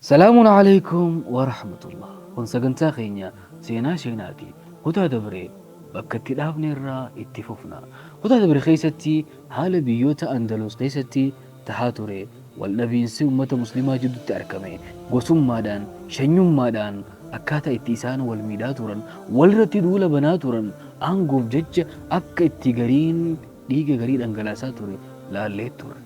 Salaamun Aleykum Warahmatullah Kun sagantaa keenya seenaa sheenaati kutaa dabre bakka itti dhaabne irraa itti fufna kutaa dabre keessatti haala biyyoota Andaluus keessatti tahaa ture wal dhabiinsi ummata muslimaa jiddutti arkame gosummaadhaan shanyummaadhaan akkaataa itti isaan wal miidhaa turan walirratti duula banaa turan aangoof jecha akka itti gariin dhiiga garii dhangalaasaa ture laallee turre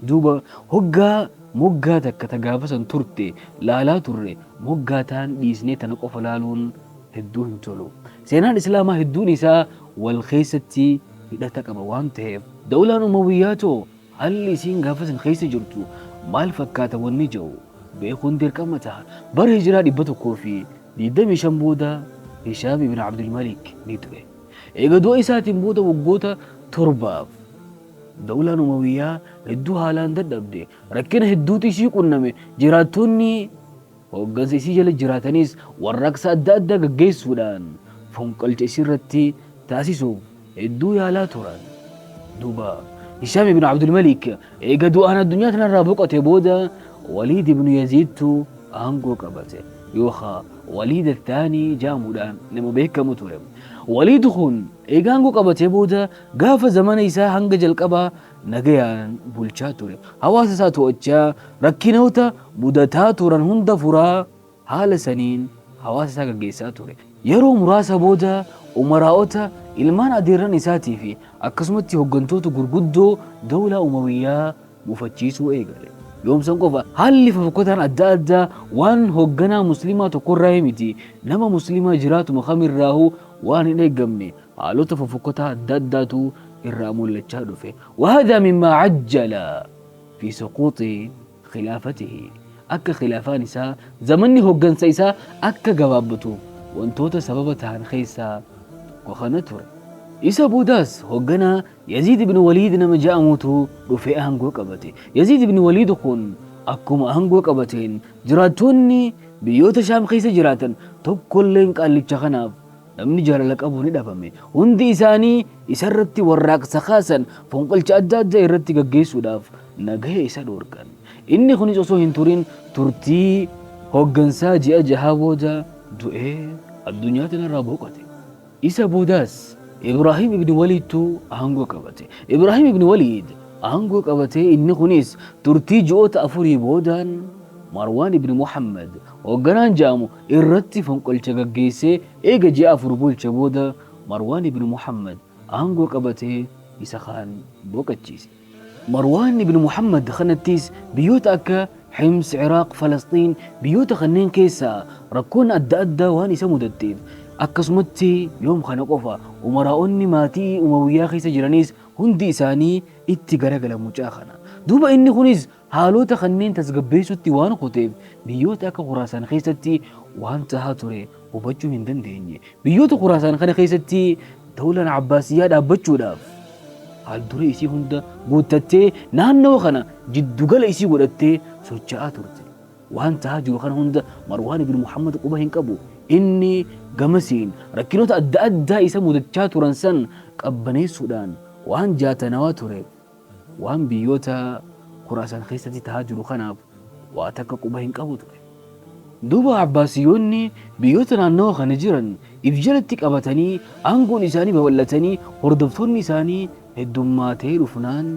duuba hoggaa Moggaa takka ta gaafa san turte laalaa turre, moggaa taan dhiisnee tana qofa laaluun hedduu hin tolu. Seenaan Islaamaa hedduun isaa wal keessatti hidhata qaba waan taheef. Dawlaan Umawiyyaa too haalli isiin gaafa san keessa jirtu maal fakkaata wanni je'u beekuun dirqama taha. Bara Hijraa 125 booda Hishaam ibn Abdul Malik ni du'e. Eega du'a isaatiin booda waggoota torbaaf. Dawlaan Umawiyyaa hedduu haalaan dadhabde. Rakkina hedduutu isii qunname. Jiraattoonni hooggansa isii jala jiraatanis warraaqsa adda addaa gaggeessuudhaan fonqolcha isiirratti taasisuuf hedduu yaalaa turan. Duuba Hishaam ibnu Abdul Malik eega du'aan addunyaa tanarraa boqote booda Waliid ibnu Yaziidtu aangoo qabate yookaa Waliid Athaanii ja'amuudhaan nama beekkamu ture. Waliid kun eega aangoo qabatee booda Gaafa zamana isaa hanga jalqabaa nagayaan bulchaa ture. Hawaasa isaa to'achaa, rakkinoota mudataa turan hunda furaa, haala saniin hawaasa isaa gaggeessaa ture. Yeroo muraasa booda umaraa'ota, ilmaan adeerran isaatii fi akkasumatti hoggantoota gurguddoo dawlaa Umawiyyaa mufachiisuu eegale. Yoom san qofa? Haalli fofokkataan adda addaa waan hogganaa Muslimaa tokkorraa miti, nama Muslimaa jiraatuma kamirraahuu waan hin eeggamne. Haalota fofokkotaa adda addaatu irraa mul'achaa dhufe. Wahada mimmaa ajjala fi suquuxi khilaafatihi. Akka khilaafaan isaa, zamanni hoggansa isaa akka gabaabbatu wantoota sababa tahan keessaa tokko kana ture. Isa boodaas hogganaa Yaziid ibn Waliid nama ja'amutu dhufee aangoo qabate. Yaziid ibn Waliid kun akkuma aangoo qabateen jiraattoonni biyyoota Shaam keessa jiraatan tokkolleen qaallicha kanaaf Namni jaalala qabu ni dhabame. Hundi isaanii isa irratti warraaqsa kaasan, fonqolcha adda addaa irratti gaggeessuudhaaf nagaya isa dhoorkan. Inni kunis osoo hin turin turtii hooggansaa ji'a jahaa booda du'ee addunyaa tanarraa boqote. Isa boodaas Ibraahim ibn Waliidtu aangoo qabate. Ibraahim ibn Waliid aangoo qabatee inni kunis turtii ji'oota afurii boodaan Marwaan ibn Muhammad hoogganaan ja'amu irratti fonqolcha gaggeessee eega ji'a afur bulche booda Marwaan ibn Muhammad aangoo qabatee isa kaan boqachiise. Marwaan ibn Muhammad kanattis biyyoota akka Hims, Iraaq, Falasxiin biyyoota kanneen keessaa rakkoon adda addaa waan isa mudatteef akkasumatti yoom kana qofa umaraa'onni maatii Umawiyyaa keessa jiranis hundi isaanii itti garagala mucaa kana. Duuba inni kunis Haalota kanneen tasgabbeessuutti waan kuteef biyyoota akka Khuraasaan keessatti waan tahaa ture hubachuu hin dandeenye. Biyyoota Khuraasaan kana keessatti dawlaan Abbaasiyyaa dhaabbachuudhaaf haalduree isii hunda guuttattee naannoo kana jiddugala isii godhattee socha'aa turte. Waan tahaa jiru kana hunda Marwaan ibn Muhammad quba hin qabu. Inni gamasiin rakkinoota adda addaa isa mudachaa turan san qabbaneessuudhaan waan jaatanawaa ture Waan biyyoota Khuraasaan keessatti tahaa jiru kanaaf waa takka quba hin qabu ture. Duuba Abbaasiyyoonni biyyoota naannawa kana jiran if jalatti qabatanii aangoon isaanii babal'atanii hordoftoonni isaanii heddummaatee dhufnaan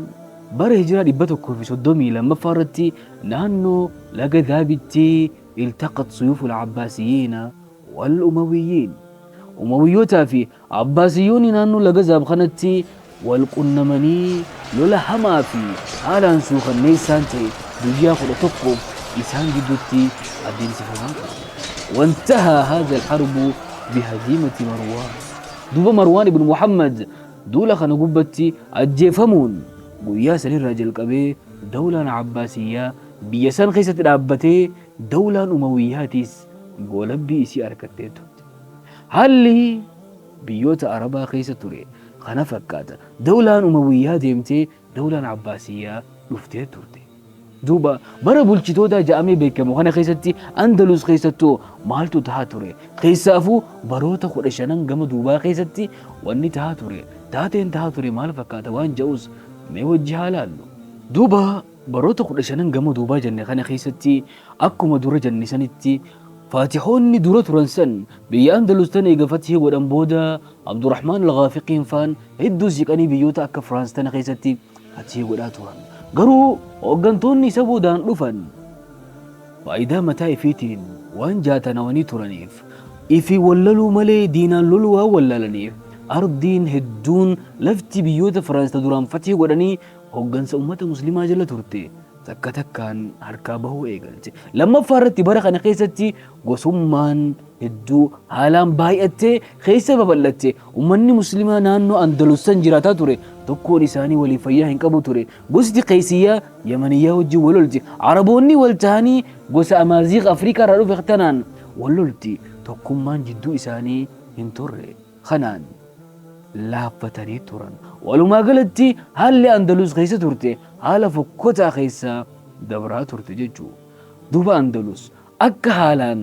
bara hijiraa 132ffaa irratti naannoo laga Daabitti iltaqat suyuuful Abbaasiyyiina wal Umawiyyiin Umawiyyootaa fi Abbaasiyyoonni naannoo laga Zaab kanatti wal qunnamanii lola hamaa fi haalaan suukanneessaan ta'e guyyaa 11f isaan gidduutti adeemsifamaa ture. Wantahaa haadha alharbu bihaziimati Marwaan. Duuba Marwaan ibn Muhammad duula kana gubbatti ajjeefamuun guyyaa sanirraa jalqabee dawlaan Abbaasiyyaa biyya san keessatti dhaabbatee dawlaan Umawiyyaatiis goolabbii isii arkattee turte. Haalli biyyoota Arabaa keessa ture kana fakkaata. Dawlaan Umawiyyaa deemtee Dawlaan Abbaasiyyaa dhuftee turte. Duuba bara bulchitootaa ja'amee beekamu kana keessatti Andalus keessattuu maaltu tahaa ture? Keessaafuu baroota kudha shanan gama duubaa keessatti wanni tahaa ture, taateen tahaa ture maal fakkaata waan ja'us mee wajji haa laallu. Duuba Baroota kudha shanan gama duubaa jenne kana keessatti akkuma dura jenne sanitti Faatihoonni dura turan san biyya Andalus tan eega fathii godhan booda Abdurahmaan Al-Gaafiqiin faan hedduu siqanii biyyoota akka Firaans tana keessatti fathii godhaa turan. Garuu hooggantoonni isa boodaan dhufan faayidaa mataa ifiitiin waan jaatanawanii turaniif ifi wallaluu malee diinaan loluu waan wallaalaniif ardiin hedduun lafti biyyoota Firaans ta duraan fathii godhanii hoggansa ummata muslimaa jala turte takka takkaan harkaa bahuu eegalte. Lammaffaa irratti bara kana keessatti gosummaan hedduu haalaan baay'attee keessa babal'atte. Ummanni muslimaa naannoo Andalus san jiraataa ture tokkoon isaanii waliif fayyaa hin qabu ture. Gosti Qeeysiyyaa Yamaniyyaa wajjin wal lolti. Araboonni wal tahanii gosa Amaaziiq Afrikaa irraa dhufe tanaan wal lolti. Tokkummaan jidduu isaanii hin turre. kanaan laaffatanii turan. Walumaa galatti haalli Andalus keessa turte haala fokkotaa keessa dabraa turte jechuu. Duuba Andalus akka haalaan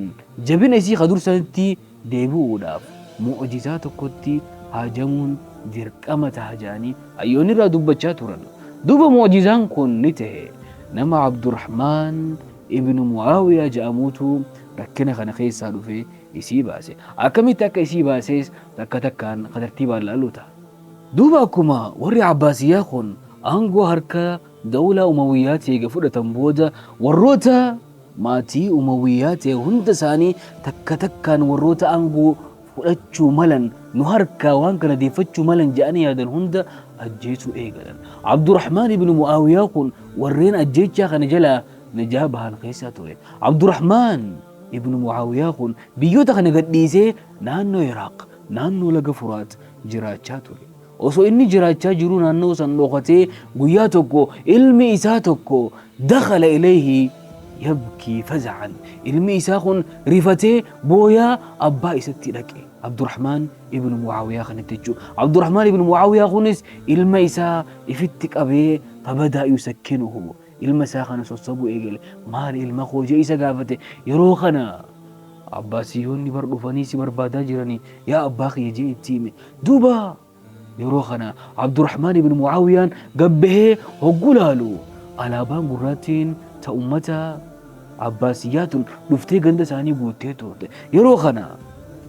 jabina isii ka dursanitti deebi'uudhaaf mu'ujizaa tokkotti haajamuun dirqama taha jedhanii hayyoonni irraa dubbachaa turan. Duuba mu'ujizaan kun ni tahe. Nama Abdurrahmaan ibnu Mu'aawiyaa jedhamuutu rakkina kana keessaa dhufee isii baase. Akkamitti akka isii baasees takka takkaan ka tartiibaan laallu ta'a. Duuba akkuma warri Abbaasiyyaa kun aangoo harka dawlaa Umawiyyaatii eega fudhatan booda warroota maatii Umawiyyaa ta'e hunda isaanii takka takkaan warroota aangoo fudhachuu malan nu harkaa waan kana deeffachuu malan jedhanii yaadan hunda ajjeesuu eegalan. Abdurrahmaan ibn Mu'aawiyyaa kun warreen ajjeechaa kana jalaa najaa bahan keessaa ture. Abdurrahmaan Ibnu Mu'aawiyaa kun biyyoota kana gadhiisee naannoo Iraaq, naannoo laga Furaat jiraachaa ture. Osoo inni jiraachaa jiruu naannoo san dhokatee guyyaa tokko ilmi isaa tokko dakhala ilayhi yabkii faza'an. Ilmi isaa kun rifatee booyaa abbaa isatti dhaqe. Abdurrahmaan ibnu Mu'aawiyaa kanatti jechuudha. Abdurrahmaan ibnu Mu'aawiyaa kunis ilma isaa ifitti qabee fabadaa yusakkinuhu. Ilma isaa kana sossobuu eegale. Maali ilma koo? jedhee isa gaafate. Yeroo kana Abbaasiyoonni bar dhufanii si barbaadaa jiranii yaa abbaa kiyya jedhee itti hime. Duuba yeroo kana Abdurrahmaan ibn Mu'aawiyaan gad bahee hogguu laalu alaabaan gurraattiin ta ummata Abbaasiyyaa tun dhuftee ganda isaanii guuttee turte. Yeroo kana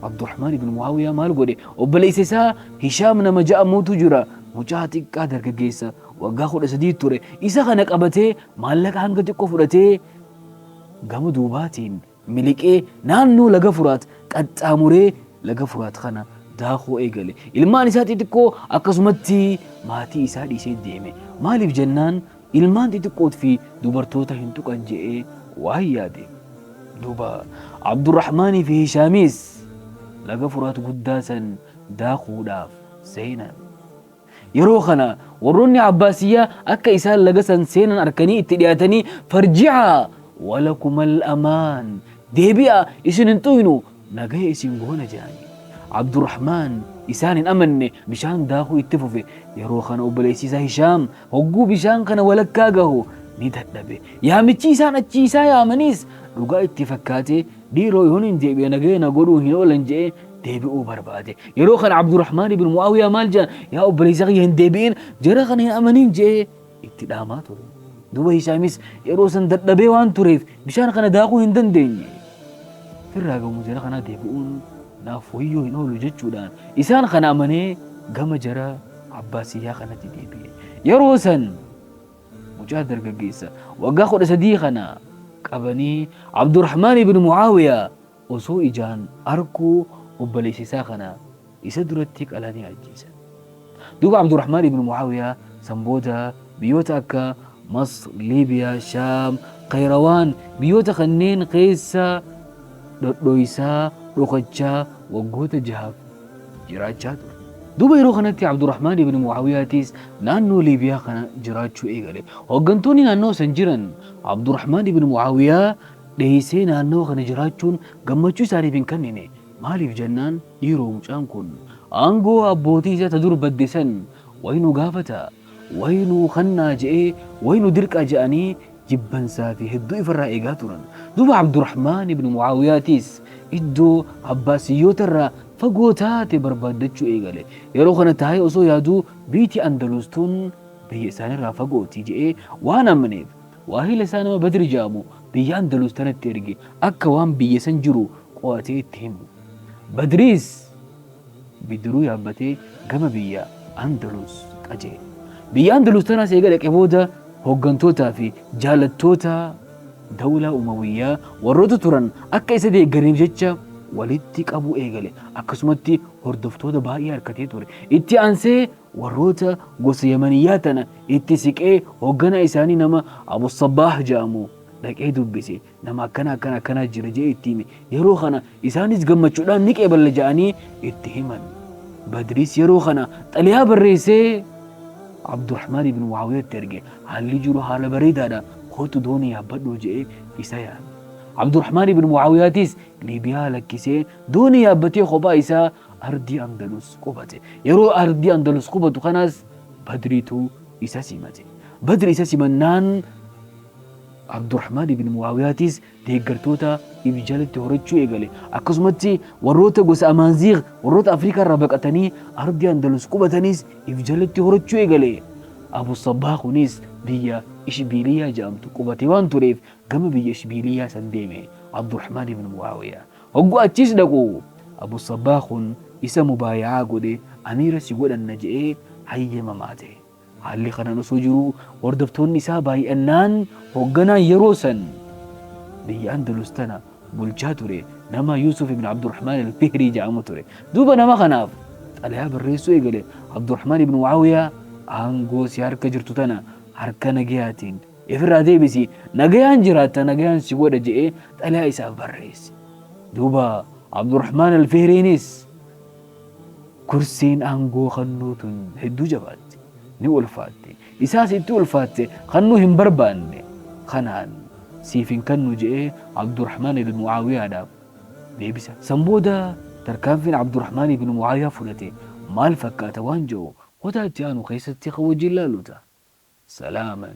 Abdurrahmaan ibn Mu'aawiyaa maal godhe? Obboleessa isaa Hishaam nama ja'amuutu jira. Mucaa xiqqaa dargaggeessa Waggaa 13 ture. Isa kana qabatee maallaqa hanga xiqqoo fudhatee gama duubaatiin miliqee naannoo laga Furaat qaxxaamuree laga Furaat kana daakuu eegale. Ilmaan isaa xixiqqoo akkasumatti maatii isaa dhiisee deeme. Maaliif jennaan ilmaan xixiqqoot fi dubartoota hin tuqan je'ee waan yaade. Duuba Abdurrahmaanii fi Hishaamiis laga Furaat guddaa san daakuudhaaf seenan. Yeroo kana warroonni Abbaasiyyaa akka isaan laga san seenan arkanii itti dhiyaatanii, Farji'aa walakumal amaan, deebi'aa isin hin xuuynu, nagaya isin goona jedhaniin. Abdurrahmaan isaan hin amanne, bishaan daakuu itti fufe. Yeroo kana obboleessi isaa Hishaam hogguu bishaan kana walakkaa gahu ni dadhabe. Yaamichi isaan achii isaa yaamaniis dhugaa itti fakkaatee, Dhiiroo yoo nin deebi'e nagaya na godhuu hin oolan je'ee deebi'uu barbaade. Yeroo kana Abdurrahmaan ibn Mu'aawiyaa maal jedhan yaa obboleessa kiyya hin deebi'in jara kana hin amanin je'ee itti dhaamaa ture. Duuba Hishaamis yeroo san dadhabee waan tureef bishaan kana daakuu hin dandeenye. Firraa gamu jara kanaa deebi'uun naaf wayyoo hin oolu jechuudhaan isaan kana amanee gama jara Abbaasiyyaa kanatti deebi'e. Yeroo san Mucaa dargaggeessa waggaa 13 kana qabanii Abdurahmaan ibn Mu'aawiyaa osoo ijaan arkuu obboleessa isaa kana isa duratti qalanii ajjeesan. Duuba Abdurahmaan ibn Mu'aawiyaa san booda biyyoota akka Masr, Liibiyaa, Shaam, Qayrawaan biyyoota kanneen keessa dhodhoysaa, dhokachaa waggoota jahaaf. jiraachaa ture. Duuba yeroo kanatti Abdurahmaan ibn Mu'aawiyaatiis naannoo Liibiyaa kana jiraachuu eegale. Hooggantoonni naannawa san jiran Abdurahmaan ibn Mu'aawiyaa dheeysee naannawa kana jiraachuun gammachuu isaaniif hin kannine. Maaliif jennaan dhiiroo mucaan kun aangoo abbootii isaa ta dur badde san way nu gaafata. Wayi nuu kannaa je'ee, wayi nu dirqaa je'anii jibbansaa fi hedduu ifarraa eegaa turan. Duuba Abdurahmaan ibn Mu'aawiyaatiis iddoo Abbaasiyyoota irraa fagoo taate barbaaddachuu eegale. Yeroo kana taa'ee osoo yaaduu biyti Andaluus tun biyya isaanirraa fagooti je'ee waan amaneef waahila isaa nama Badri je'amu biyya Andaluus tanatti erge akka waan biyya san jiru qo'atee itti himu. Badriis. bidiruu yaabbatee gama biyya Andalus qajeele. Biyya Andalus tanaas eega dhaqe booda hooggantootaa fi jaalattoota dawlaa Umawiyyaa warroota turan akka isa deeggaraniif jecha walitti qabuu eegale. Akkasumatti hordoftoota baay'ee harkatee ture. Itti aansee warroota gosa Yamaniyyaa tana itti siqee hoogganaa isaanii nama Abu Sabbaah ja'amu dhaqee dubbise. Nama akkana akkana akkana jira jee itti hime. Yeroo kana isaanis gammachuudhaan ni qeeballa ja'anii itti himan. Badriis yeroo kana xaliyaa barreessee Abdurrahmaan ibn Muawiyaatti erge. Haalli jiru haala bareedaadha. Kootu doonii yaabbadhu je'ee isa yaame. Abdurrahmaan ibn Muawiyaatis Liibiyaa lakkisee doonii yaabbatee kophaa isaa ardii Andalus qubate. Yeroo ardii Andalus qubatu kanas Badriitu isa simate. Badri isa simannaan Abdurahmaan ibn Mu'aawiyaatis deeggartoota if jalatti horachuu eegale. Akkasumatti warroota gosa Amaanziigh warroota Afrikaarraa baqatanii ardii Andalus qubatanis if jalatti horachuu eegale. Abu Sabbaah kunis biyya Ishbiiliyyaa jedhamtu qubatee waan tureef gama biyya Ishbiiliyyaa san deeme Abdurahmaan ibn Mu'aawiyaa. Hogguu achiis dhaqu Abu Sabbaah kun isa mubaaya'aa godhe amiira si godhanna je'ee hayyama maate. Haalli kanaan osoo jiruu hordoftoonni isaa baay'annaan hoogganaan yeroo san biyya Andalus tana bulchaa ture nama Yuusuf ibn Abdurrahmaan al-Fihrii jedhamu ture. Duuba nama kanaaf xalayaa barreessuu eegale Abdurrahmaan ibn Mu'aawiyaa aangoo si harka jirtu tana harka nagayaatiin ifirraa deebisi nagayaan jiraatta nagayaan si godha je'ee xalayaa isaaf barreesse. Duuba Abdurrahmaan al-Fihriinis Kursiin aangoo kannuu tun hedduu jabaatti. Ni ulfaatti. Isaas itti ulfaatte kannuu hin barbaanne. Kanaan siif hin kannu je'ee Abdurrahmaan ibn Mu'aawiyaadhaaf deebisa. San booda tarkaanfiin Abdurrahmaan ibn Mu'aawiyaa fudhate maal fakkaata waan je'u kutaa itti aanu keessatti kan wajjiin laallu ta'a. Salaaman.